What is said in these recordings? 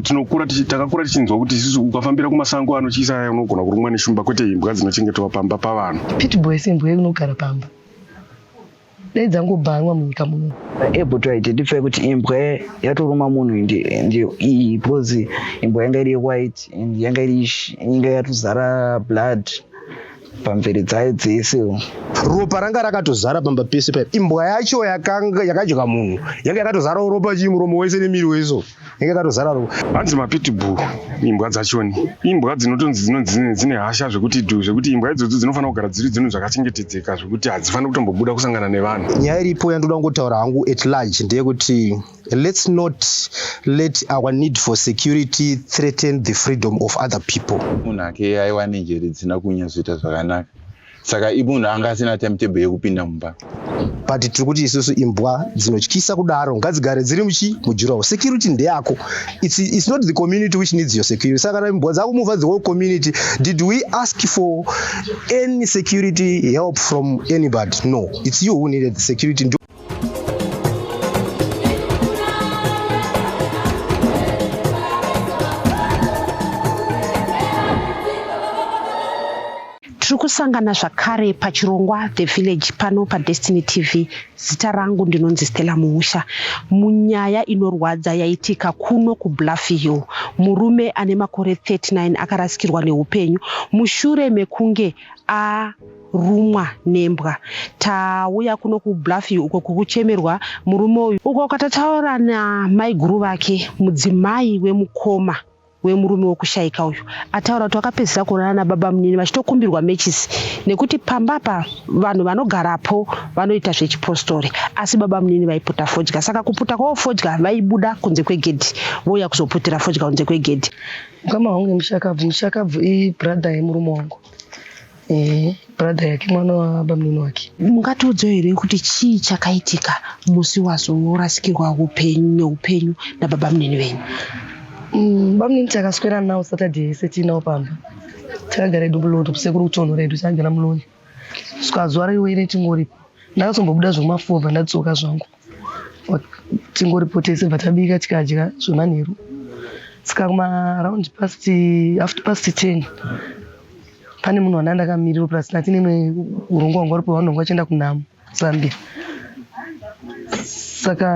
tinokura takakura tichinzwa kuti isusu ukafambira kumasango anotyisa aya unogona kurumwa neshumba kwete imbwa dzinochengetwa pamba pavanhu pitboys imbwa yekunogara pamba dai dzangobhanwa munyika muno ebutwaiti ndipfe kuti imbwa yatoruma munhu ndiyo iyi because imbwa yanga iri white and yanga iri yanga yatozara blood pamviri dzayo dzese ropa ranga rakatozara pamba pese paya imbwa yacho yakadya munhu yanga yakatozara ropa chii muromo wese nemiri weso yanga yakatozara ropa hanzi mapitbull imbwa dzachoni imbwa dzinotonzi dzinonzi dzine hasha zvekuti du zvekuti imbwa idzodzo dzinofanira kugara dziri dzinhu zvakachengetedzeka zvekuti hadzifaniri kutombobuda kusangana nevanhu nyaya iripo yandoda kungotaura hangu at large ndeyekuti Let's not let our need for security threaten the freedom of other people. Munhu ake aiwa nenjere dzisina kunyatsoita zvakanaka saka imunhu anga asina timetable yekupinda mumba but tiri kuti isusu imbwa dzinotyisa kudaro ngadzigare dziri muchi mujurawo security ndeyako it's, it's not the community which needs your security saka kana imbwa dzako muvha the whole community did we ask for any security help from anybody no it's you who needed the security tiri kusangana zvakare pachirongwa the village pano padestiny tv zita rangu ndinonzi stella muusha munyaya inorwadza yaitika kuno kubluffy hill murume ane makore 39 akarasikirwa neupenyu mushure mekunge a rumwa nembwa tauya kuno kubluffy uko kukuchemerwa murume uyu uko katataura namaiguru vake mudzimai wemukoma wemurume wokushaika uyu ataura kuti wakapedzisa kuonana nababa munini vachitokumbirwa matches nekuti pamba pa vanhu vanogarapo vanoita zvechipostori asi baba munini vaiputa fodya saka kuputa kwavo fodya vaibuda kunze kwegedhi vouya kuzoputira fodya kunze kwegedhi mukama wangu nemushakabvu mushakabvu ibrother yemurume wangu Eh, brother yake mwana wabamunini wake mungatiudzewo here kuti chii chakaitika musi wazorasikirwa upenyu neupenyu nababa munini venyu Mm, bamunini takaswera nawo saturday yese tiinawo pamba takagara edu muloto kusekuru kutonhora edu takagara muloni saka zuva raiwe ine tingoripo ndakazombobuda zvomafova ndadzoka zvangu tingoripotese bva tabika tikadya zvemanheru saka kumaround past after past ten pane munhu wana ndakamiriro plus nati nemwe urongwa hwanga rupo vanhu vanga vachienda kunhamo zambia saka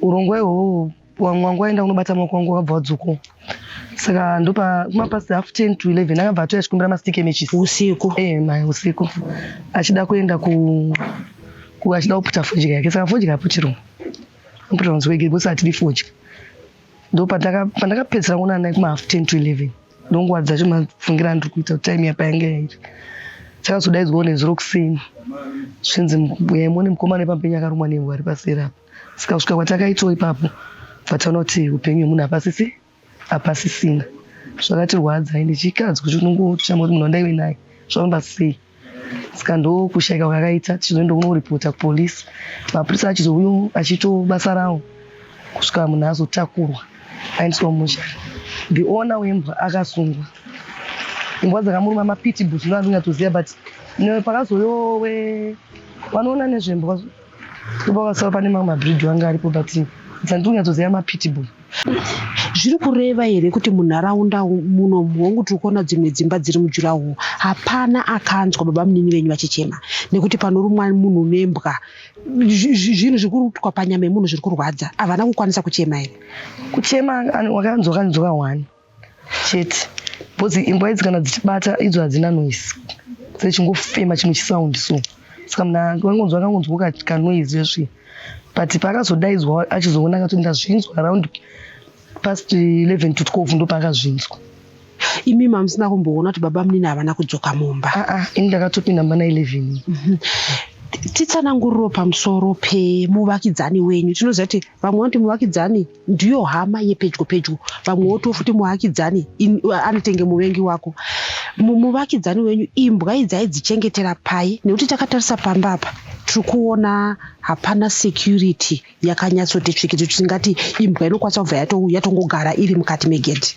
urongwa ihwohwo wangu wangu waenda kunobata maoko wangu wakabva wadzokawo saka ndopa kumapasi half ten to eleven akabva atouya achikumbira mastike matches usiku eh mai usiku achida kuenda ku ku achida kuputa fodya yake saka fodya aputirwa aputirwa nzwi wege because atidi fodya ndo pandaka pandakapedzera kuona naye kuma half ten to eleven ndonguva dzacho mafungira andiri kuita kuti time yapa yange yairi chakazodaidzwawo nezuro kuseni zvinzi yai muone mukomana wepampenyu akarumwa nembwa ari paseri apa saka kusvika kwatakaitwo ipapo vataona kuti upenyu hwemunhu hapasisi hapasisina zvakatirwadza ende chikadzi kuti unongochama kuti munhu wandaive naye zvafamba sei saka ndokushaika kwakaita tichizoenda kunoripota kupolisi mapurisa achizouyo achito basa rawo kusvika munhu azotakurwa aendeswa musha the owner wembwa akasungwa imbwa dzakamuruma mapitibus ndovandonyatsoziva but pakazouyo we vanoona nezvembwa Ndipo vakasava pane mamwe mabridge wange aripo but dzandiri kunyatsoziva mapitbull. Zviri kureva here kuti munharaunda muno hongu tiri kuona dzimwe dzimba dziri mujuraho hapana akanzwa baba munini venyu vachichema nekuti panorumwa munhu nembwa zvinhu zviri kuitwa panyama yemunhu zviri kurwadza havana kukwanisa kuchema here? Kuchema wakanzwa kanzwa wani? chete because imbwa idzi kana dzichibata idzo hadzina noise dzechingofema chimwe chisound so saka munhu akangonzwa akangonzwa kanoise zvesvii but paakazodaidzwa achizoona akati ndazvinzwa around past 11 to 12 ndopaakazvinzwa imi mamusina kumboona kuti baba munini havana kudzoka mumba ah, ah, ini ndakatopinda mumba na 11 mhm. titsananguriro pamusoro pemuvakidzani wenyu tinoziva kuti vamwe vanoti muvakidzani ndiyo hama yepedyo pedyo vamwe wotiwo futi muvakidzani anotenge muvengi wako muvakidzani wenyu imbwa idzi aidzichengetera pai nekuti takatarisa pamba apa tiri kuona hapana security yakanyatsoti tsvikiti tingati imbwa inokwanisa kubva yatongogara iri mukati megedhi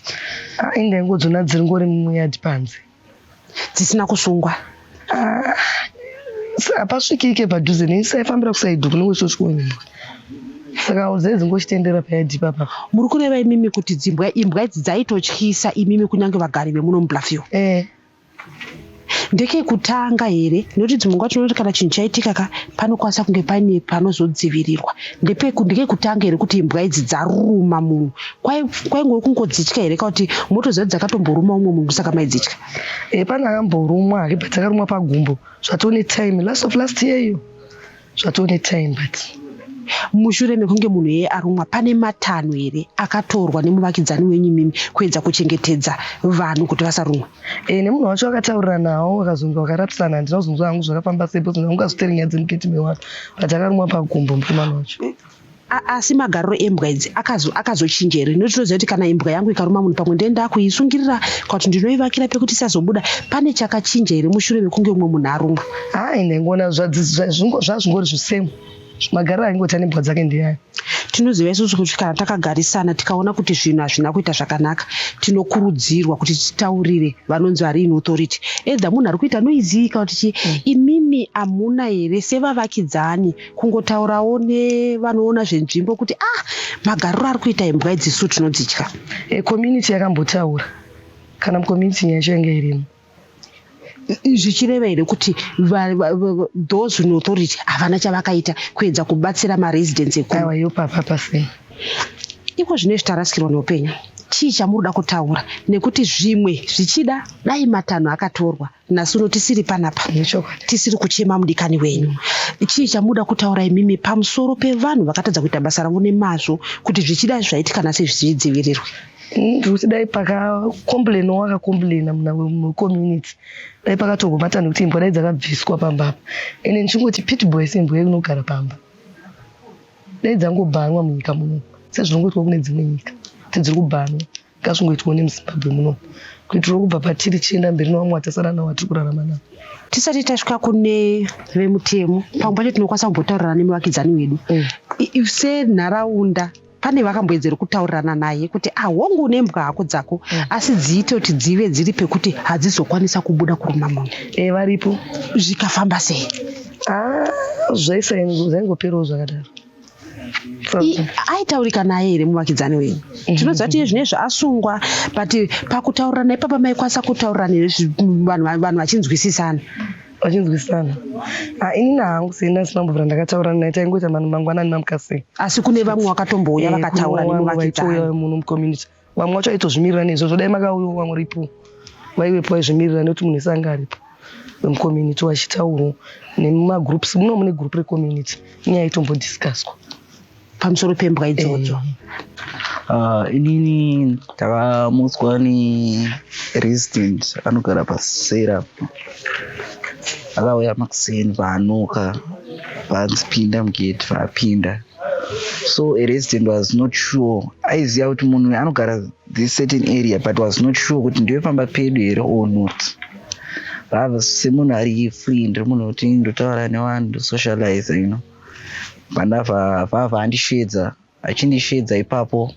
ah, inga ingodzona dziri ngori muyadi panze dzisina kusungwa ah, hapasvikike ah, padhuze neisaifambira kusaido kune wesosikuonyimbwa saka udzai dzingochitendera payadhi papa muri kureva imimi kuti dzimbwa imbwa idzi dzaitotyisa imimi kunyange vagari vemuno mublafio e eh. ndeke kutanga here nekuti dzimwe nguva tinoti kana chinhu chaitika ka panokwanisa kunge paine panozodzivirirwa ndeke kutanga here kuti imbwa idzi dzaruma munhu kwaingove kungodzitya here ka kuti motoziva dzakatomboruma umwe munhu saka maidzitya e eh, pane akamborumwa hake but akarumwa pagumbo zvatone time last of last year iyo zvatone time but mushure mekunge munhu yeye arumwa pane matanho here akatorwa nemuvakidzani wenyu mimi kuedza kuchengetedza vanhu kuti vasarumwa e, nemunhu wacho akataurira nawo akazonzi wakarapisana handina kuzonzwa hangu zvakafamba sepo zona kungazotere nyaya dzemuketime wake but akarumwa pagumbo mukomana wacho asi magariro embwa idzi akazochinja here nokuti tinoziva kuti kana imbwa yangu ikaruma munhu pamwe ndee ndakuisungirira kwakuti ndinoivakira pekuti isazobuda pane chakachinja here mushure mekunge umwe munhu arumwa haa ine ngona zvazvingori zvisemu magariro aingoita nembwa dzake ndeyayo tinoziva isusu kuti kana takagarisana tikaona kuti zvinhu hazvina kuita zvakanaka tinokurudzirwa kuti titaurire vanonzi vari in authority edha munhu ari kuita noiziika kuti chii mm. imimi hamuna here sevavakidzani kungotaurawo nevanoona zvenzvimbo kuti ah magariro ari kuita imbwa idzisu tinodzitya e, community yakambotaura kana mucommunity nyaya yacho yange irimo zvichireva here kuti those in authority havana chavakaita kuedza kubatsira maresidence ekuaiwa yo papa pasei iko zvine zvitarasikirwa neupenyu chii chamuri kuda kutaura nekuti zvimwe zvichida dai matanho akatorwa nhasi uno tisiri panapa tisiri kuchema mudikani wenyu chii chamuda kutaura imimi pamusoro pevanhu vakatadza kuita basa ravo nemazvo kuti zvichidai zvaitika nhasi zvidzivirirwe nekuti dai pakacomplaina wakacomplaina muna wecommunity dai pakatorwa matanho ekuti imbwa dai dzakabviswa pamba apa ende ndichingoti pitboy seimbwa yekunogara pamba dai dzangobhanwa munyika muno sezvinongoitwa kune dzimwe nyika kuti dziri kubhanwa ngazvingoitwa nemuzimbabwe muno kuitira kubva patiri tichienda mberi nevamwe vatasara navo vatiri kurarama navo tisati tasvika kune vemutemo pamwe pacho tinokwanisa kumbotaurirana nemuvakidzani wedu mm. senharaunda pane vakamboedzera kutaurirana naye kuti ahongu ah, une mbwa hako dzako mm. asi dziite kuti dzive dziri pekuti hadzizokwanisa kubuda kuruma munhu e eh, varipo zvikafamba sei ah, zvaisazvaingoperawo zvakadaro aitaurika naye here muvakidzani wenyu eh. tinoziva tiye zvine zvaasungwa but pakutaurirana ipapa maikwanisa kutaurirana here vanhu vachinzwisisana vachinzwisisana ah, ini nahangu sena sina mbovira ndakataurana naye taingoita mangwanani mamukasei asi kune vamwe wakatombouya eh, vakataura nemuvakidzani munhu mucommunity vamwe wacho aitozvimirira neizvozvo dai makauyawo vamwe ripo vaivepo vaizvimirira nekuti munhu ese anga aripo vemucommunity vachitaurwa nemumagroups muno mune group recommunity nyaya itombodiscuswa pamusoro pembwa idzodzo eh. ah, inini ndakamutswa neresident anogara pasera akauya makuseni paanuka panzi pinda mugate paapinda so a resident was not sure aiziva kuti munhu uyu anogara this certain area but was not sure kuti ndiyofamba pedu here or not rava semunhu ari free ndiri munhu kuti ndotaura nevanhu ndosocialize you know pandava vava andisheedza achindisheedza ipapo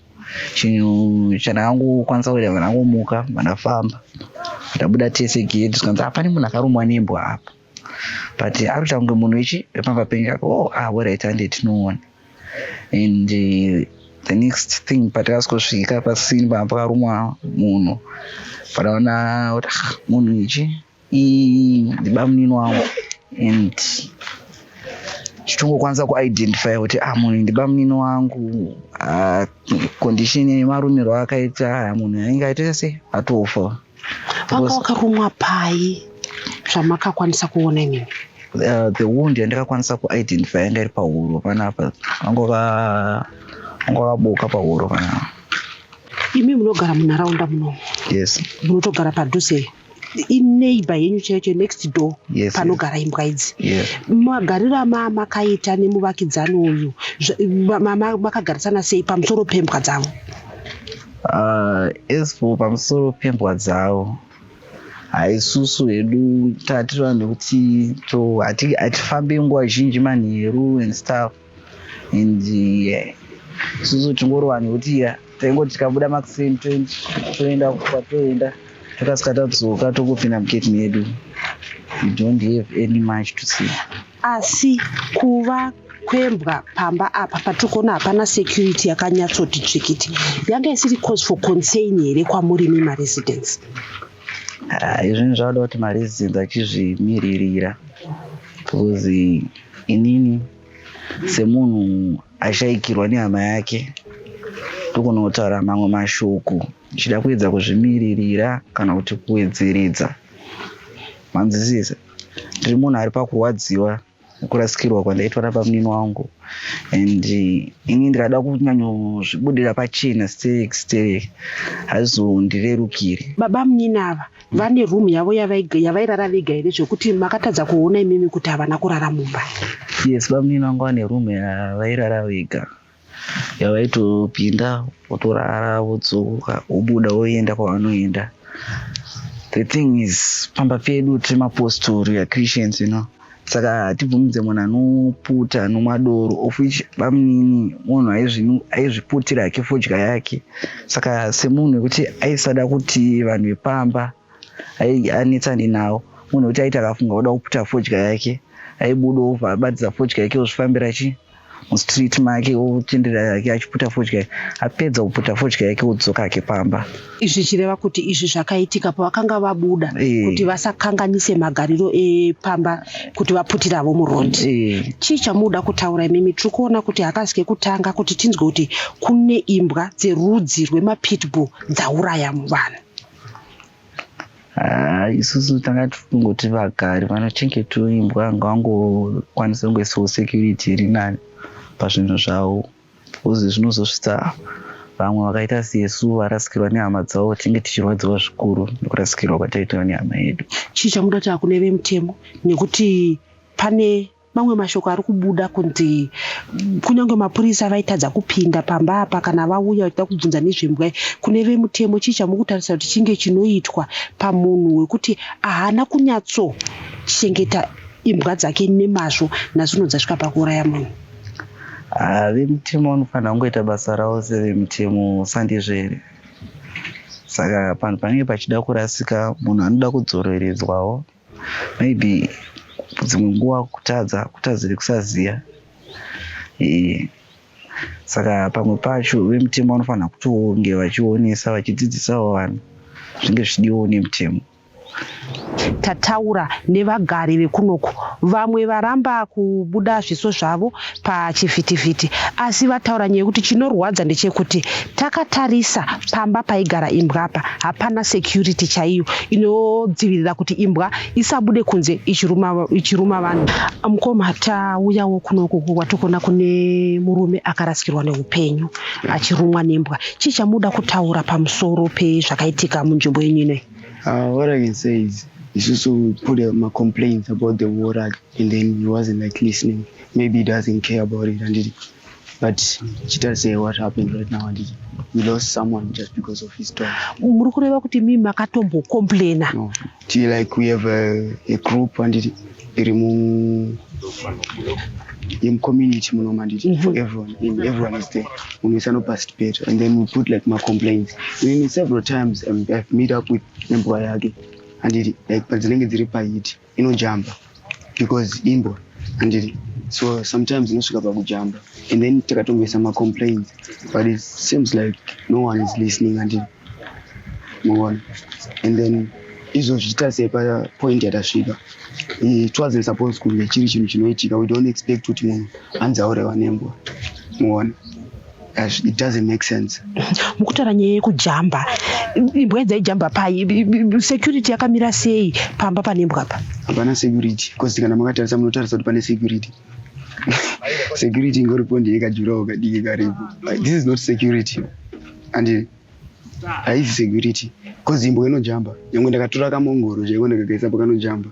chinhu chandakangokwanisa kuita vanangomuka vandafamba ndabuda tese gedi zvikanzi hapane munhu akarumwa nembwa apa but akuita kunge munhu ichi pamba penyu ako oh ah woright hande tinoona and uh, the next thing patakasvika pasini pamba pakarumwa munhu pataona kuti ah, munhu ichi ndibamunini wangu and tichitongokwanisa kuidentify kuti ah munhu ndibamunini wangu ah, condition yemarumirwo akaita ah, munhu ainge aitoita sei atofa Vanga wakarumwa pai zvamakakwanisa kuona imimi? Uh, the wound yandikakwanisa kuidentify yanga iri pahuro panapa vangova vabuka pahuro panapa imi munogara munharaunda munomu yes munotogara padhuze ineighbor yenyu chaicho next door yes, panogara yes. imbwa idzi yes. magariro amaa makaita nemuvakidzani uyu makagarisana sei pamusoro pembwa dzavo Uh, as for pamusoro pembwa dzavo haisusu hedu tati vanhu kuti to hatifambe nguva zhinji manheru and stuff and eh, isusu uh, tingori vanhu kuti ya taingoti tikabuda makuseni toenda kwatoenda tokasika tadzoka tokupinda muketi medu we don't have any much to say Asi kuva kwembwa pamba apa patiri kuona hapana security yakanyatsoti tsvikiti yanga isiri cause for concern here kwamuri imi maresidence ah, izvinhu zvavada kuti maresidence achizvimiririra because inini semunhu ashaikirwa nehama yake tokunotaura mamwe mashoko ichida kuedza kuzvimiririra kana kuti kuwedzeredza manzwisisa ndiri munhu ari pakurwadziwa kurasikirwa kwandaitwa nabamunini wangu and ini ndikada kunyanyozvibudira pachena sterek sterek hazondirerukire baba munyini ava vane room yavo yavairara vega here zvekuti makatadza kuona imimi kuti havana kurara mumba yes bamunini vangu vane room yavairara vega yavaitopinda votorara vodzoka vobuda voenda kwavanoenda the thing is pamba pedu tiri mapostori achristians you know saka hatibvumidze munhu anoputa anomwa doro of which bamunini munhu aizviputira hake fodya yake saka semunhu wekuti aisada kuti vanhu vepamba anetsane nawo munhu wekuti aiti akafunga oda kuputa fodya yake aibuda obva abatidza fodya yake ozvifambira chii mustreet make ochenderera yake achiputa fodya apedza kuputa fodya yake odzoka ake pamba izvi chireva kuti izvi zvakaitika pavakanga vabuda eh. kuti vasakanganise magariro epamba kuti vaputiravo murondi eh. chii chamuda kutaura imimi tiri kuona kuti hakazi kekutanga kuti tinzwe kuti kune imbwa dzerudzi rwemapitbull dzauraya muvanhu Ah, isusu tanga tikungoti vagari vanochengetawo imbwa ngavangokwanisa kungoisawo security iri nani pazvinhu zvavo bcause zvinozosvitsa vamwe vakaita sesu varasikirwa nehama dzavo tinge tichirwadziwa zvikuru nekurasikirwa kwataitawo nehama yedu chii chamuda kuti akune vemutemo nekuti pane Mamwe mashoko ari kubuda kunzi kunyange mapurisa vaitadza kupinda pamba apa kana vauya vachida kubvunza nezvembwa kune vemutemo chii chamukutarisa kuti chinge chinoitwa pamunhu wekuti ahana kunyatso chengeta imbwa dzake nemazvo nazvino dzasvika pakuuraya munhu ah, vemutemo vanofanira kungoita basa ravo sevemutemo sandizvere saka panhu panenge pachida kurasika munhu anoda kudzoreredzwawo maybe dzimwe nguva kutadza kutadzire kusaziva eh, saka pamwe pacho vemutemo vanofanira kutonge vachionesa vachidzidzisawo vanhu zvinge zvichidiwawo nemutemo tataura nevagari vekunoku vamwe varamba kubuda zviso zvavo pachivhitivhiti asi vataura nyaya yekuti chinorwadza ndechekuti takatarisa pamba paigara imbwa apa hapana security chaiyo inodzivirira kuti imbwa isabude kunze ichiruma vanhu mukoma tauyawo kunoku kwatikuona kune murume akarasikirwa neupenyu achirumwa nembwa chii chamuda kutaura pamusoro pezvakaitika munzvimbo yenyu inoyi ah, what i can say is isusu put macomplaints about the war act and then he wasn't like listening maybe he doesn't care about it handiti but chitarisei what happened right now handiti we lost someone just because of his dog muri kureva kuti mi makatombocomplaina no. ti like we have a, a group handiti iri mu yemcommunity muno manditi mm-hmm. for everyone in everyone is there munhu wese anoparticipate and then we put like macomplaints in several times um, i've meet up with nembwa yake handiti like padzinenge dziri pahiti inojamba because imbwa handiri so sometimes inosvika pakujamba and then takatongoisa macomplains but it seems like no one is listening handiri muona and then izvo zvichitarisei papoint yatasvika it wasn't supposed kunge chiri chinhu chinoitika we don't expect kuti munhu anzi aurewa nembwa muona it doesn't make sense mukutaura nyaya yekujamba imbwa idzaijamba pai security yakamira sei pamba pane imbwa pa hapana security bcause kana makatarisa munotarisa kuti pane security security ingoripo ndiyekajurawo kadiki karipo this is not security and haizi security cause imbwa inojamba nyangwe ndakatora kamongoro chaiko ndakagaisa pakanojamba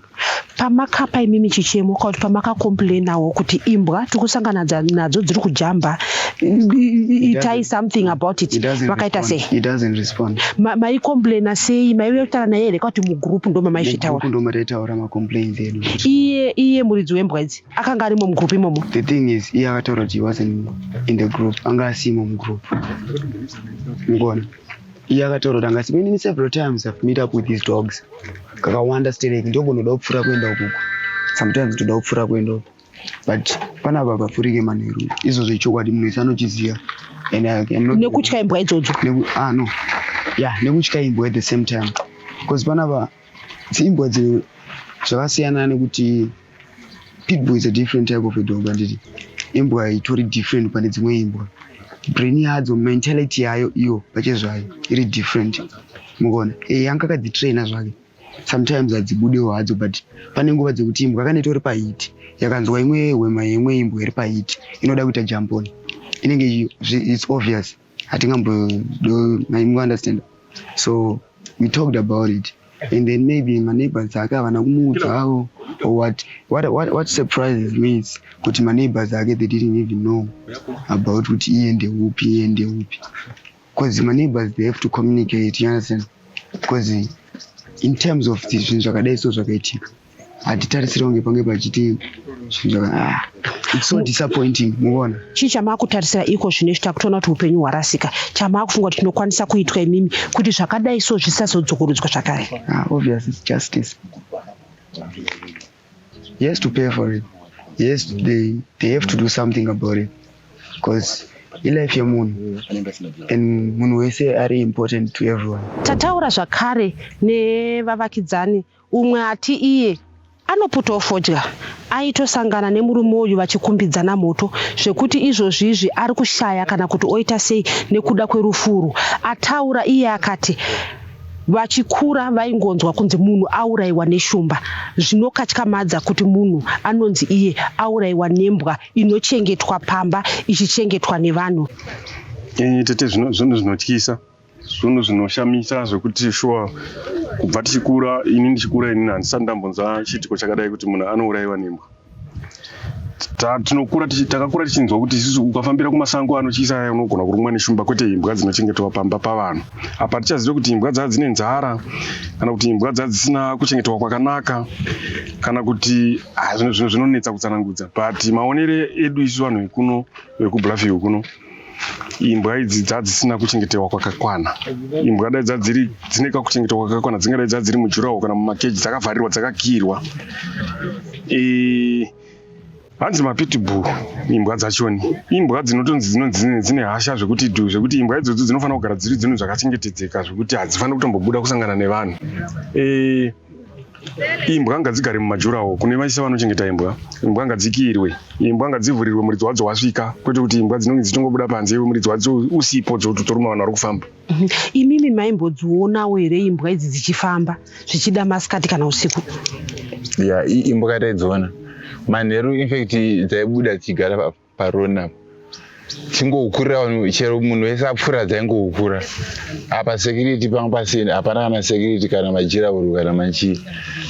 pamakapa imimi chichemo kana kuti pamakakomplainawo kuti imbwa tiri kusangana nadzo dziri kujamba itai something about it vakaita sei maikomplaina sei maiuya kutaura naye here kwakuti mugroup ndo mamaizvitaura iye iye muridzi wembwa idzi akanga arimo mugroup imomo the thing is iye akataura kuti he wasn't in the group anga asimo mugroup mukona iye akataura kuti anga asimo inini several times i've meet up with these dogs kakawanda sterek ndogonoda kupfuura kuenda ukuko sometimes toda kupfuura kuenda uko but pana apa pafurike manheru izvozvo ichokwadi munhu wese anochiziva nekutya imbwa idzodzo ah, no ya nekutya imbwa at the same time bcause panapa dziimbwa dzino zvakasiyana nekuti Pitbull is a different type of a dog handiti imbwa itori different pane dzimwe imbwa brain yadzo mentality yayo iyo pachezvayo iri different mukuona e eh, yanga akadzitraina zvake sometimes hadzibudewo hadzo but pane nguva dzekuti imbwa kana itori pahiti yakanzwa imwe hwema yeimwe imbwa iri pahiti inoda kuita jamponi inenge its obvious hatingambodo maimu understand so we talked about it and then maybe maneighbors ake havana kumuudza avo or what, what, what, what surprises me is kuti maneighbors ake they didn't even know about kuti iye ndeupi iye ndeupi because maneighbors they have to communicate you understand because in terms of zvinhu zvakadai so zvakaitika hatitarisire kunge pange pachiti zvinhu ah, its so disappointing muvona chii chamaakutarisira iko zvino izvi takutoona kuti upenyu hwarasika chamaakufunga kuti chinokwanisa kuitwa imimi kuti zvakadai so zvisazodzokorodzwa zvakare ah, obvious its justice yes to pay for it yes they, they have to do something about it because ilife yemunhu and munhu wese ari important to everyone tataura zvakare nevavakidzani Umwe ati iye anoputa ofodya aitosangana nemurume uyu vachikumbidzana moto zvekuti izvozvizvi ari kushaya kana kuti oita sei nekuda kwerufu urwu. Ataura iye akati vachikura vaingonzwa kunzi munhu aurayiwa neshumba zvinokatyamadza kuti munhu anonzi iye aurayiwa nembwa inochengetwa pamba ichichengetwa nevanhu. Tete, zvinhu zvinotyisa. Zvinhu zvinoshamisa zvekuti shuwa kubva tichikura, ini ndichikura ini handisati ndambonzwa chiitiko chakadai kuti munhu anourayiwa nembwa. Tinokura takakura tichinzwa kuti isusu ukafambira kumasango anotyisa aya unogona kurumwa neshumba kwete imbwa dzinochengetwa pamba pavanhu. Apa tichazive kuti imbwa dzaa dzine nzara kana kuti imbwa dzaa dzisina kuchengetwa kwakanaka kana kuti ah, zvinhu zvinonetsa kutsanangudza but maonere edu isu vanhu vekuno vekubluffy kuno imbwa idzi dzadzisina kuchengetewa kwakakwana imbwa dai dzadziri dzine kakuchengetewa kwakakwana dzingadai dzadziri mujurawo kana mumakeji dzakavharirwa dzakakirwa e, hanzi mapitbull imbwa dzachoni imbwa dzinotonzi dzinonzi dzine hasha zvekuti du zvekuti imbwa idzodzo dzinofanira kugara dziri dzinhu zvakachengetedzeka zvekuti hadzifaniri kutombobuda kusangana nevanhu e, imbwa ngadzigare mumajurawo kune vaise vanochengeta imbwa imbwa ngadzikiirwe imbwa ngadzivhurirwe muridzi wadzo wasvika kwete kuti imbwa dzinonge dzichingobuda panze iwe muridzi wadzo usipo dzotoruma vanhu vari kufamba mhm. imimi maimbodzionawo here imbwa idzi dzichifamba zvichida masikati kana usiku ya imbwa taidziona manheru infact dzaibuda dzichigara papo paroni apa dzingokura chero munhu wese apfuura dzaingokura apa security panga pasina hapana kana security kana majirahuru kana machii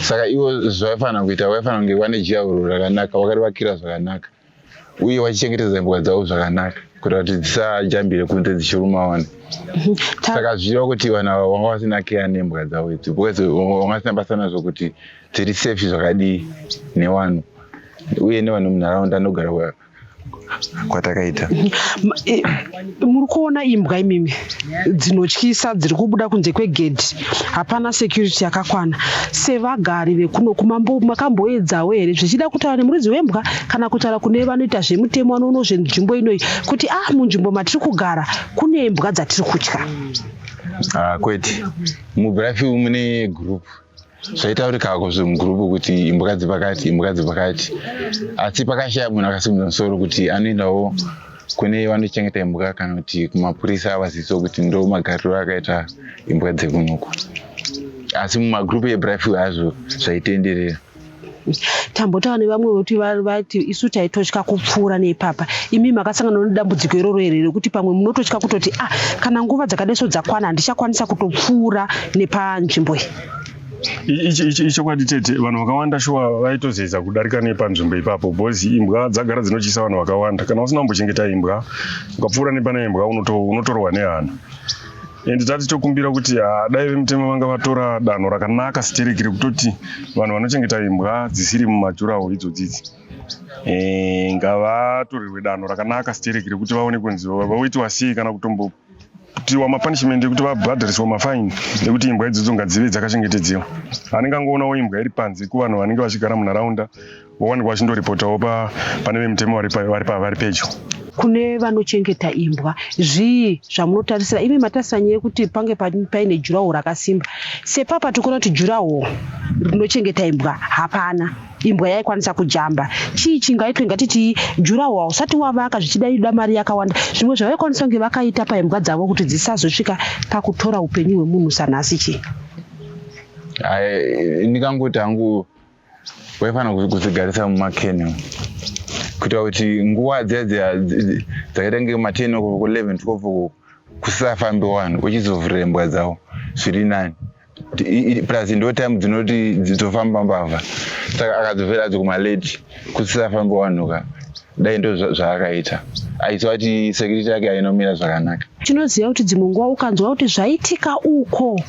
saka ivo zvavaifanira kuita vaifanira kunge vane jirahuru rakanaka vakarivakira zvakanaka uye vachichengetedza imbwa dzavo zvakanaka kuita kuti dzisajambire kunze dzichiruma vanhu saka zvichiva kuti vanhu ava vanga vasina keya nembwa dzavo idzi because vanga vasina basa nazvo kuti dziri safe zvakadii newanhu uye nevanhu munharaunda anogara kwayo kwatakaita muri kuona imbwa imimi dzinotyisa dziri kubuda kunze kwegedhi hapana security yakakwana sevagari vekuno kumambo makamboedzawo here zvichida kutaura nemuridzi wembwa kana kutaura kune vanoita zvemutemo vanoono zvenzvimbo inoyi kuti ah munzvimbo matiri kugara kune mbwa dzatiri kutya ah, kwete mubrafi mune group zvaitaurikako zve mugurupu kuti imbwa dzepakati imbwa dzepakati asi pakashaya munhu akasimudza musoro kuti anoendawo kune vanochengeta imbwa kana kuti kumapurisa avaziso kuti ndo magariro akaita imbwa dzekunuku asi mumagurupu ebryful hazvo zvaitenderera tambotaura nevamwe vekuti vati isu taitotya kupfuura neipapa imi makasangana nedambudziko iroro here rekuti pamwe munototya kutoti ah kana nguva dzakadeso dzakwana handichakwanisa kutopfuura nepanzvimbo iyi ichokwadi tete vanhu vakawanda shuwa vaitozeza kudarika nepanzvimbo ipapo bcoz imbwa dzagara dzinotyisa vanhu vakawanda kana usina kumbochengeta imbwa ukapfuura nepana imbwa unotorwa nehana and tati tokumbira kuti ah, dai vemutemo vanga vatora danho rakanaka stereki rekutoti vanhu vanochengeta imbwa dzisiri mumajurawo idzodzidzi eh, ngavatorerwe danho rakanaka stereki rekuti vaone kunzi voitiwa sei kana kutombo kutiwa mapunishment ekuti vabhadhariswa mafaini ekuti imbwa idzodzo ngadzive dzakachengetedzewa anenge angoonawo imbwa iri panze kuvanhu vanenge vachigara munharaunda Wawanikwa wachindoripotawo pane vemutemo vari pedyo kune vanochengeta imbwa zvii zvamunotarisira imi matarisira nyaya yekuti pange paine juraho rakasimba sepapa tikuona kuti juraho rinochengeta imbwa hapana imbwa yaikwanisa kujamba chii chingaitwe ngatitii juraho hausati wavaka zvichidaida mari yakawanda zvimwe zvavaikwanisa kunge vakaita paimbwa dzavo kuti dzisazosvika pakutora upenyu hwemunhu sanhasi chii ndikangoti hangu waifanira kudzigarisa mumakeni kuitira kuti nguva dziya dziya dzakaita nge maten oko ku11 12 uku kusafambi vanhu uchizovhurira imbwa dzavo zviri nani plus ndo time dzinoti dzitofamba mbavha saka akadzovera adzo kumalate kusisafambi vanhu ka dai ndo zvaakaita aiziva kuti security yake ainomira zvakanaka tinoziva kuti dzimwe nguva ukanzwa kuti zvaitika uko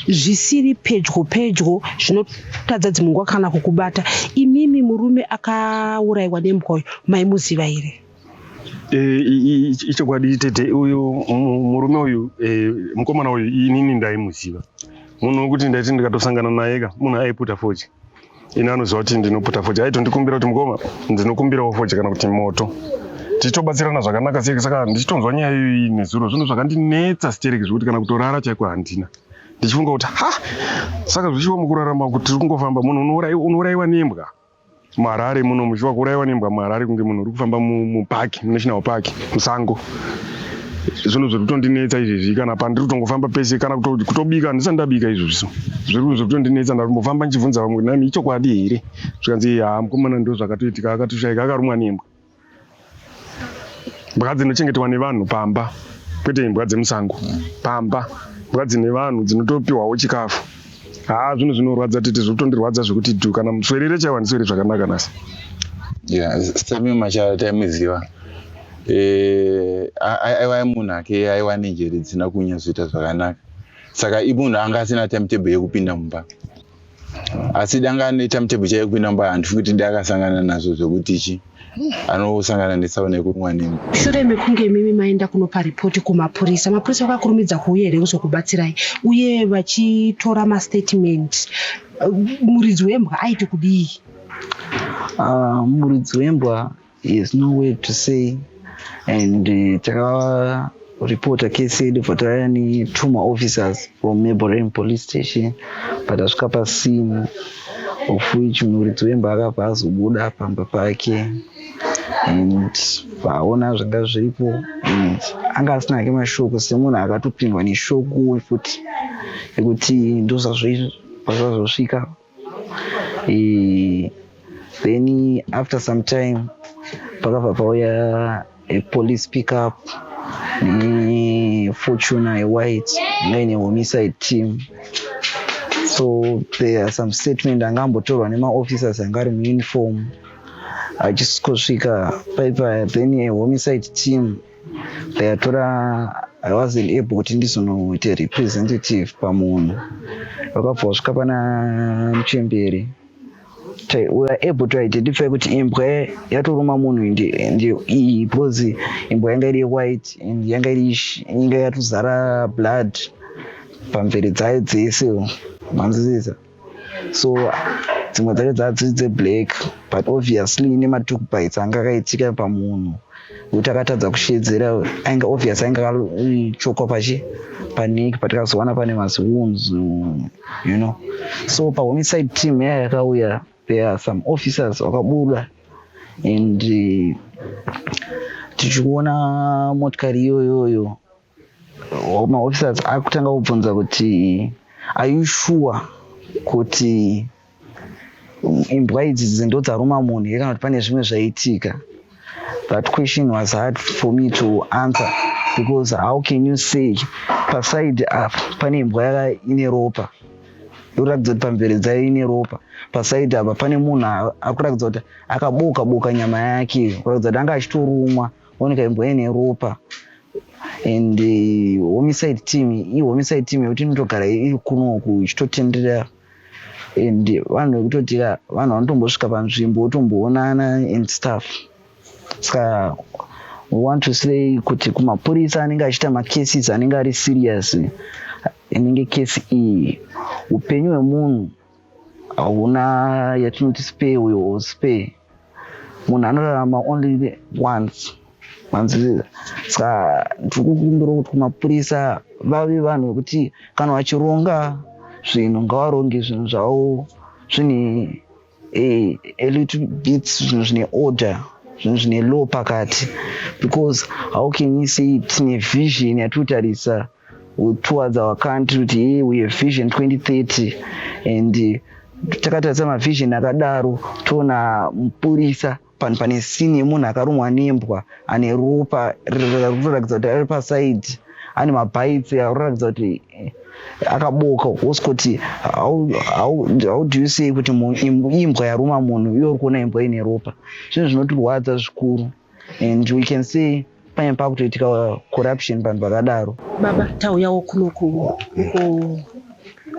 zvisiri pedyo pedyo zvinotadza dzimwe nguva kana kukubata imimi murume akaurayiwa nembwa uyu maimuziva here eh, ichokwadi tete uyu murume uyu eh, mukomana uyu inini ndaimuziva munhu wekuti ndaiti ndikatosangana naye ka munhu aiputa fochi ini anoziva kuti ndinoputa foja aitondikumbira kuti mukoma ndinokumbirawo foja kana kuti moto tichitobatsirana zvakanaka stereki saka ndichitonzwa nyaya iyoyi nezuro zvino zvakandinetsa stereki zvekuti kana kutorara chaiko handina ndichifunga kuti ha saka zvichiwa mukurarama kuti tiri kungofamba munhu unourayiwa nembwa muharare muno muchiwa kuurayiwa nembwa muharare kunge munhu uri kufamba mupaki munational park musango zvinhu zviri kutondinetsa izvezvi kana pandiri kutongofamba pese kana kutobika handisati ndabika izvozviso zviri zvinhu zviri kutondinetsa ndarimbofamba ndichibvunza vamwe kuti nami ichokwadi here zvikanzi haa mukomana ndo zvakatoitika akatoshaika akarumwa nembwa mbwa dzinochengetewa nevanhu pamba kwete imbwa dzemusango pamba mbwa dzine vanhu dzinotopiwawo chikafu haa zvinhu zvinorwadza tete zviri kutondirwadza zvekuti du kana muswerere chaiwa ndiswere zvakanaka nasi yeah, same machara taimuziva eh, aiwa munhu ake aiwa nenjere dzisina kunyatsoita zvakanaka saka imunhu anga asina timetable yekupinda mumba asi danga ane timetable chaiyo kupinda mumba handifi kuti ndakasangana nazvo zvekuti chi anosangana nesauna yekurumwa nemi shure mekunge imimi maenda kunopa ripoti kumapurisa mapurisa vakakurumidza kuuya here kuzokubatsirai uye vachitora mastatement muridzi wembwa aiti kudii ah, muridzi wembwa He has no way to say and uh, taka reporter case yedu for taiya ne two ma officers from maborem police station but asvika pasina of which muridzi wemba akabva azobuda pamba pake and vaona zvanga zviripo and anga asina ake mashoko semunhu akatopindwa neshoko futi ekuti ndozvazvazvazvosvika e, then after some time pakabva pauya a police pick up nefortuna yewhite ngai nehomicide team so there are some statement anga ambotorwa nemaofficers anga ari muuniform achisvika paipa then a homicide team ndayatora i wasn't able kuti ndizonoite representative pamunhu vakabva vasvika pana muchemberi we are able to identify kuti imbwa yatoruma munhu iyi because imbwa yanga iri white and yanga iri inga yatozara blood pamvere dzayo dzese manzwisisa so dzimwe dzacho dzaa dziri dzeblack but obviously ine matook bites anga akaitika pamunhu kuti akatadza kushedzera ainge obvious ainge akachokwa pachi paniki patikazowana pane maziwooms you know so pahomicide team yaya yakauya there are some officers vakabuda and eh, tichikuona motikari iyoyoyo maofficers akutanga kubvunza kuti are you sure kuti imbwa idzi dzindo dzaruma munhu here kana kuti pane zvimwe zvaitika that question was hard for me to answer because how can you say paside apa pane imbwa yaka ine ropa ikuratidza kuti pamvere dzayo ine ropa paside apa pane munhu akuratidza kuti akaboka boka nyama yake kuratidza kuti anga achitorumwa oneka imbwa ine ropa and eh, homicide team iyi homicide team yekuti inotogara iri kunoku ichitotenderera and vanhu vekutotira vanhu vanotombosvika panzvimbo votomboonana and stuff saka we want to say kuti kumapurisa anenge achiita macases anenge ari serious inenge case iyi upenyu hwemunhu hauna yatinoti spare uyo or spare munhu anorarama only once manzwisisa saka ndiri kukumbira kuti kumapurisa vave vanhu vekuti kana vachironga zvinhu ngavaronge zvinhu zvavo zvine eh, a little bit zvinhu zvine order zvinhu zvine law pakati because how can you say tine vision yatiri kutarisa towards our country kuti hey, we have vision 2030 and uh, takatarisa mavision akadaro toona mupurisa panhu pane sini yemunhu akarumwa nembwa ane ropa rinoratidza kuti ari pasaidi ane mabhaitsi arikuratidza kuti eh, akaboka wose kuti how do you say kuti imbwa yaruma munhu iyo uri kuona imbwa ine ropa zvinhu zvinotirwadza zvikuru and we can see pane pakutoitika uh, corruption vanhu vakadaro baba tauyawo kuno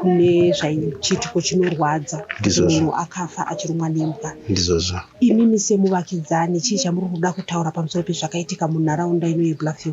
kune zvachiitiko chinorwadza munhu akafa achirumwa nembwa ndizvozvo imimi semuvakidzani chii chamuri kuda kutaura pamusoro pezvakaitika munharaunda ino yebluffil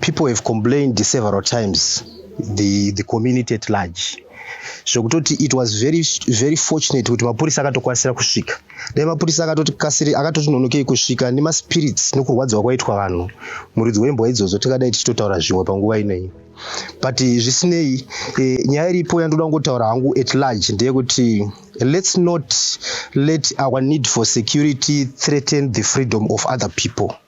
People have complained several times the, the community at large zvekutoti it was very, very fortunate kuti mapurisa akatokwanisa kusvika dai mapurisa akatoti kasiri akatoti nonokei kusvika nemaspirits nokurwadziwa kwaitwa vanhu muridzi wembwa idzodzo tingadai tichitotaura zvimwe panguva inei but zvisinei e, nyaya iripo yandoda kungotaura hangu at large ndeyekuti let's not let our need for security threaten the freedom of other people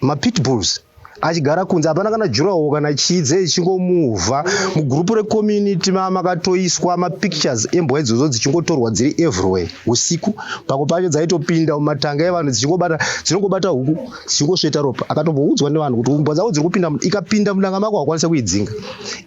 mapitbulls achigara kunze hapana kana jurawo kana chii dze ichingomuvha mugurupu recommunity ma makatoiswa mapictures embwa idzodzo dzichingotorwa dziri everywhere usiku pako pacho dzaitopinda mumatanga evanhu dzichingobata dzinongobata huku dzichingosveta ropa akatomboudzwa nevanhu kuti mbwa dzavo dziri kupinda ikapinda mudanga mako hakwanisa kuidzinga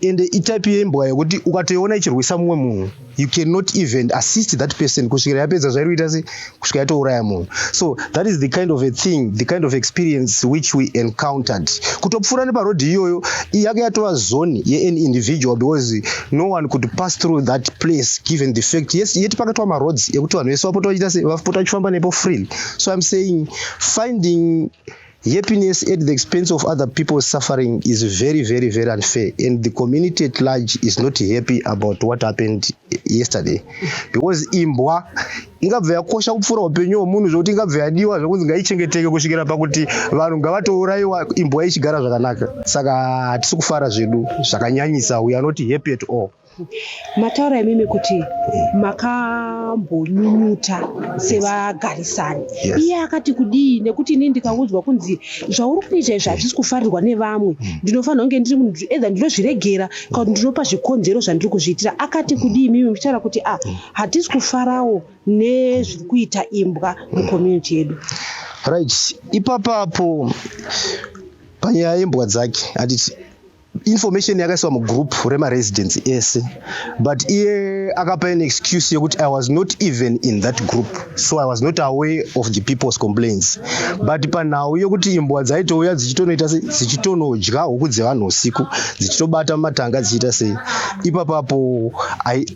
ende itype yembwa yekuti ukatoiona ichirwisa mumwe munhu you cannot even assist that person kusvikira yapedza zvairi kuita se kusvika yatouraya munhu so that is the kind of a thing the kind of experience which we encountered kutopfuura neparodhi iyoyo yake yatova zone yean individual because no one could pass through that place given the fact yes yet pakatwa maroads ekuti vanhu vese vapota vachita se vapota vachifamba nepo freely so im saying finding Happiness at the expense of other people's suffering is very, very, very unfair. And the community at large is not happy about what happened yesterday. Because imbwa ingabva yakosha kupfuura upenyu hwemunhu zvekuti ingabva yadiwa zvekunzi ngaichengeteke kusvikira pakuti vanhu ngavatourayiwa imbwa ichigara zvakanaka. Saka hatisi kufara zvedu zvakanyanyisa, we are not happy at all. Mataura imimi kuti makambonyunyuta sevagarisani. Yes. Iye akati kudii nekuti ini ndikaudzwa kunzi zvauri kuita izvi hazvisi kufarirwa nevamwe hmm. ndinofanira kunge ndiri munhu either ndinozviregera kana kuti ndinopa zvikonzero zvandiri kuzviitira. Akati kudii imimi muchitaura kuti ah hmm. hatisi kufarawo nezviri kuita imbwa mucommunity yedu. Right. Ipapapo panyaya yembwa dzake handiti information yakaiswa mugroup remaresidence ese but iye akapa an excuse yekuti i was not even in that group so i was not aware of the people's complaints but panhau yekuti imbwa dzaitouya dzichitonoita se dzichitonodya huku dzevanhu usiku dzichitobata mumatanga dzichiita sei ipapapo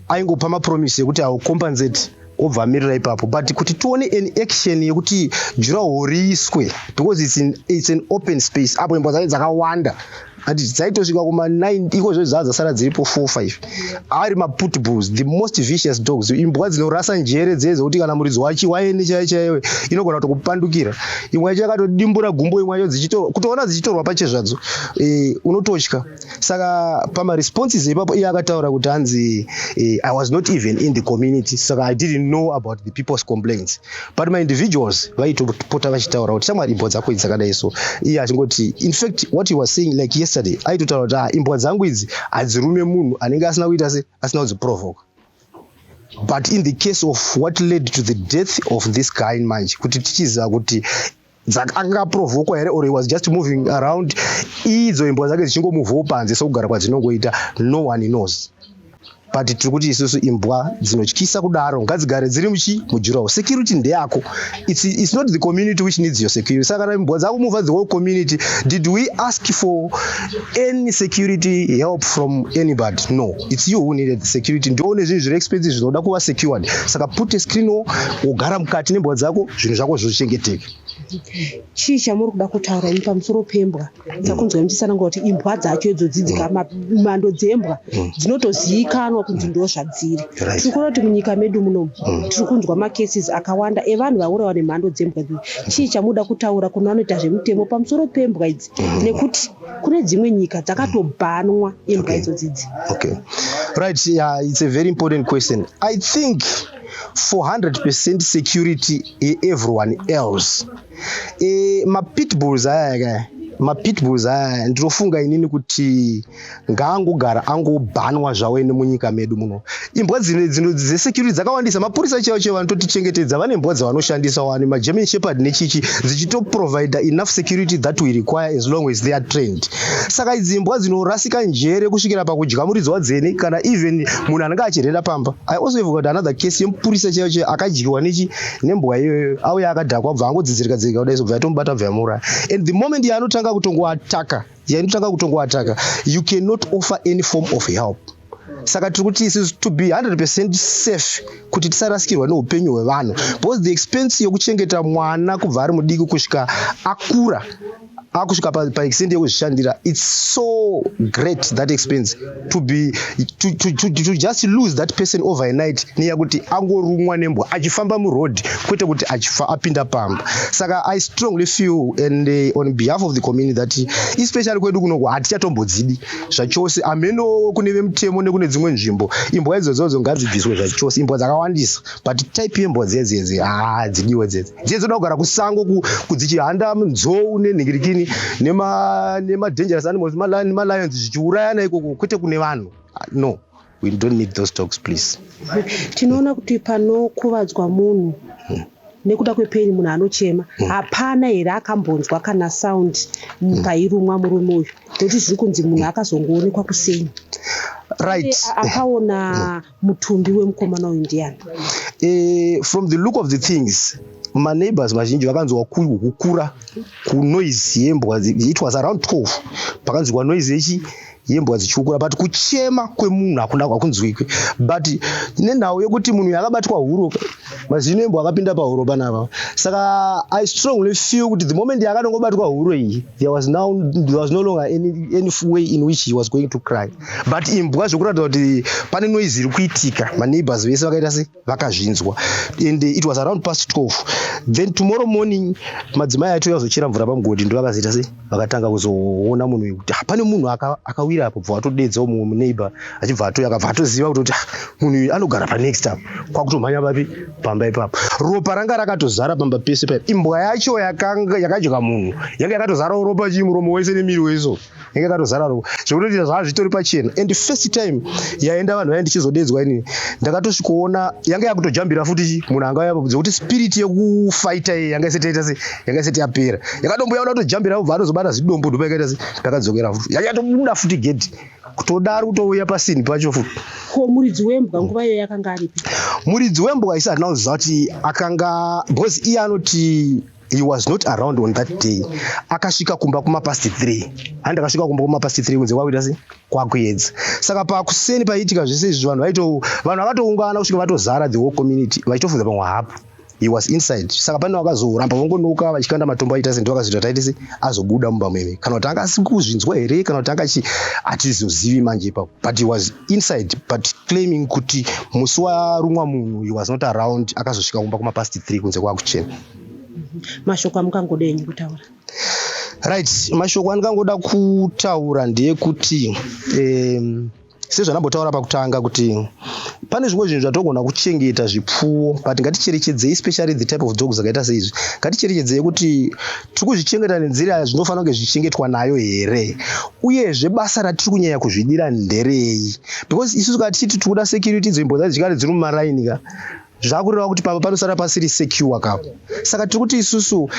aingopa mapromise yekuti i will compensate obva amirira ipapo but kuti tione an action yekuti juraho riiswe because it's, in, it's an open space apo imba dzacho dzakawanda ati dzaitosvika kuma 9 iko zvo dzaa dzasara dziripo 45 ari maputbulls the most vicious dogs imbwa dzinorasa njere dzee dzekuti kana muridzi wachi waene chaiye chaiwe inogona kutokupandukira imwe yacho yakatodimbura gumbo imwe yacho kutoona dzichitorwa pache zvadzo e, unototya saka pamaresponses ipapo iye akataura kuti hanzi eh, i was not even in the community saka i didn't know about the people's complaints but my individuals vaitopota vachitaura kuti shamwari imbwa dzako idzi dzakadai so iye achingoti in fact what he was saying like yesterday aitotaura kuti ah, imbwa dzangu idzi hadzirume munhu anenge asina kuita se asina kudziprovoka but in the case of what led to the death of this guy manje kuti tichiziva kuti Zaka anga aprovokwa here or he was just moving around idzo imbwa dzake dzichingomuvawo panze sokugara kwadzinongoita no one knows but tiri kuti isusu imbwa dzinotyisa kudaro ngadzigare dziri muchi mujurawo security ndeyako it's, it's not the community which needs your security saka kana imbwa dzako move the whole community did we ask for any security help from anybody no It's you who needed the security. Ndoone zvinhu zviri expensive zvinoda kuva secured. Saka put a screen wall, wogara mukati nembwa dzako, zvinhu zvako zvozvichengeteka. Chii chamuri kuda kutaura ini pamusoro pembwa? Takunzwa muchisananga kuti imbwa dzacho idzo dzidzika mm. ma- mhando dzembwa mm. dzinotozivikanwa kunzi ndo zvadziri. Right. Tiri kuona kuti munyika medu munomu mm. tiri kunzwa macases akawanda evanhu vaurawa nemhando dzembwa. Chii chamuda kutaura kune vanoita zvemutemo pamusoro pembwa idzi nekuti kune dzimwe nyika dzakatobhanwa imbwa okay. idzo dzidzi okay. right yeah, it's a very important question i think 400 percent security everyone else e, eh, mapitbulls aya kaya mapitbulls aya ndinofunga inini kuti ngaangogara angobhanwa zvawo ene munyika medu muno imbwa dzine dzino dzesecurity dzakawandisa mapurisa chaiwo chaiwo vanototichengetedza vane mbwa dzavanoshandisa wani magerman shepherd nechichi dzichitoprovider enough security that we require as long as they are trained saka idzi mbwa dzinorasika njere kusvikira pakudya muridzi wadzene kana even munhu anenge achirhera pamba i also have got another case yemupurisa chaiwo chaiwo akadyiwa nechi nembwa iyoyo auya akadhakwa bva angodzidzirika dzirika kudai zobva yatomubata bva yamuuraya and the moment yaanotanga kutongoataka yainotanga kutongoataka you cannot offer any form of help saka tiri kuti isusu to be 100 percent safe kuti tisarasikirwa neupenyu hwevanhu because the expense yokuchengeta mwana kubva ari mudiki kusvika akura akusvika paextent pa yekuzvishandira its so great that expense to be to, to, to, to just lose that person overnight neya kuti angorumwa nembwa achifamba muroad kwete kuti achifa apinda pamba saka i strongly feel and uh, on behalf of the community that especially kwedu kunoku hatichatombodzidi zvachose hameno kune vemutemo nekune dzimwe nzvimbo imbwa idzodzodzo ngadzibviswe zvachose imbwa dzakawandisa but type yembwa dzedzedze haa dzidiwe dzedze dziye dzinoda kugara kusango kudzichihanda nzou nenhingirikini nemadangerous animals nemalions zvichiurayana ikoko kwete kune vanhu ah, no We don't need those talks please. Tinoona kuti panokuvadzwa munhu hmm. nekuda kwepeni munhu anochema hmm. hapana here akambonzwa kana sound hmm. pairumwa murume uyu nekuti zviri kunzi munhu akazongoonekwa kuseni right akaona mutumbi wemukomana uyu ndiyani eh, from the look of the things maneighbors vazhinji vakanzwa kukura kunoise yembwa it was around 12 pakanzwa noise yechi yembwa dzichiukura but kuchema kwemunhu hakuna hakunzwikwi but nenhau yekuti munhu yakabatwa huro mazino embwa akapinda pahuro panapa saka i strongly feel kuti the moment yakanongobatwa huro iyi there was, now, there was no longer any, any way in which he was going to cry but imbwa zvekuratidza kuti pane noise iri kuitika maneighbors vese vakaita sei vakazvinzwa and it was around past 12 then tomorrow morning madzimai acho azochera mvura pamugodhi ndovakazoita se vakatanga kuzoona munhu wekuti ah, pane munhu akawira apo bva vatodedza umwe muneighbor achibva atoya akabva atoziva kutoti ah, munhu uyu anogara panext up kwakutomhanya papi pamba ipapo ropa ranga rakatozara pamba pese paipo imbwa yacho yakadya munhu yanga yakatozarawo ropa chii muromo wese nemiri weso inge katozara roko zvekuti zvanga zvitori pachena and first time yaenda vanhu vaye ndichizodedzwa ini ndakatosvikoona yanga yakutojambira futi munhu anga yapa zvekuti spirit yekufaita iye yanga isati yaita se yanga isati yapera yakatombuya kuda kutojambira ubva atozobata zidombo ndopa yakaita se ndakadzokera futi yanga yatobuda futi gedhi kutodaro kutouya pasini pacho futi ko muridzi wembwa nguva iyo yakanga aripi muridzi wembwa isi hatina kuziva kuti akanga because iye anoti he was not around on that day akasvika kumba kuma past three handi akasvika kumba kuma past three kunze kwakuita se kwakuedza saka pakuseni paiitika zvese izvi vanhu vaito vanhu vakatoungana kusvika vatozara the whole community vachitofunza pamwe hapo he was inside saka pane vakazoramba vongonoka vachikanda matombo aita senti vakazoita taiti se azobuda mumba meme kana kuti anga asi kuzvinzwa here kana kuti anga chi hatizozivi manje ipapo but he was inside but claiming kuti musi warumwa munhu he was not around akazosvika kumba kumapast three kunze kwakuchena mashoko amukangoda enyu kutaura right mashoko andikangoda kutaura ndeyekuti um, sezvanambotaura pakutanga kuti pane zvimwe zvinhu zvatogona kuchengeta zvipfuwo but ngaticherechedzei especially the type of dogs akaita seizvi ngaticherechedzei kuti tiri kuzvichengeta nenzira yazvinofanira kunge zvichengetwa nayo here uyezve basa ratiri kunyanya kuzvidira nderei because isusu ka tichiti tiri kuda security idzo imbodza dzikare dziri mumaraini ka zvakureva kuti pamba panosara pasiri secure ka saka tiri kuti isusu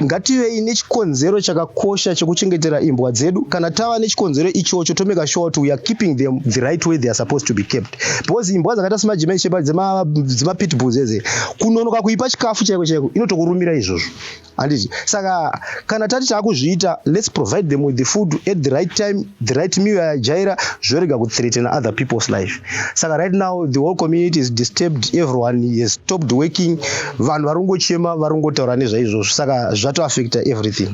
ngativei nechikonzero chakakosha chekuchengetera imbwa dzedu kana tava nechikonzero ichocho tomeka sure kuti weare keeping them the right way theyare supposed to be kept because imbwa dzakaita semajimai shepa dzemapitbulls eze kunonoka kuipa chikafu chaiko chaiko inotokurumira izvozvo handiti saka kana tati taakuzviita let's provide them with the food at the right time the right meal yajaira zvorega kuthreatena other people's life saka right now the whole community is disturbed everyone has stopped working vanhu vari kungochema vari kungotaura nezvaizvozvo saka zvatoaffecta everything